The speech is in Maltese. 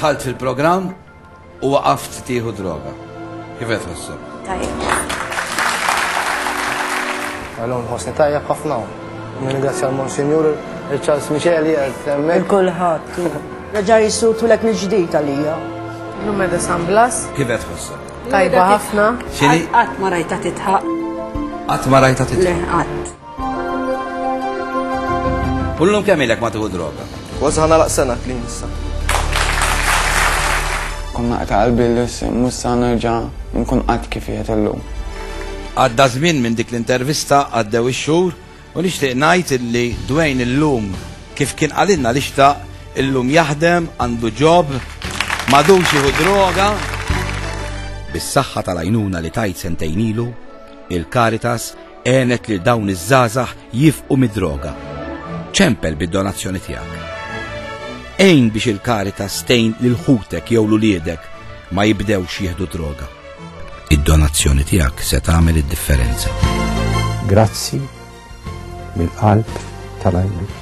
Tħalt fil-programm u waqaft tieħu droga. Kif qed ħossu? Tajjeb. Għalhom ħossni tajjeb ħafna. Nirringrazzja l-Monsinjur Charles Micheli għed hemmhekk. Kulħadd. Reġa' jissutu lek mill-ġdid għalija. L-lum edha San Blas. Kif qed ħossu? Tajba ħafna. Xini? Qatt ma rajta titħaq. Qatt ma rajta titħaq. Le, qatt. Kullum kemm ilek ma tieħu droga? Kważi ħana laq sena klin issa. Konna qed qalbi li mussa nerġa' nkun qatt kif qiegħed illum. Għadda żmien minn dik l-intervista għaddew ix-xhur u nixtieq ngħid illi Dwayne illum kif kien qalilna li xtaq illum jaħdem, għandu ġob, madux jieħu droga. Bis-saħħa tal-għajnuna li tajt sentejn ilu, il-Caritas Għenet lil dawn iż-żgħażagħ jifqu mid-droga. Ċempel bid-donazzjoni tiegħek. Ejn biex il-karita stejn lil ħutek jew l-uliedek ma jibdewx jieħdu droga. Id-donazzjoni tiegħek se tagħmel id-differenza. Grazzi mill-qalb tal-għajnuna.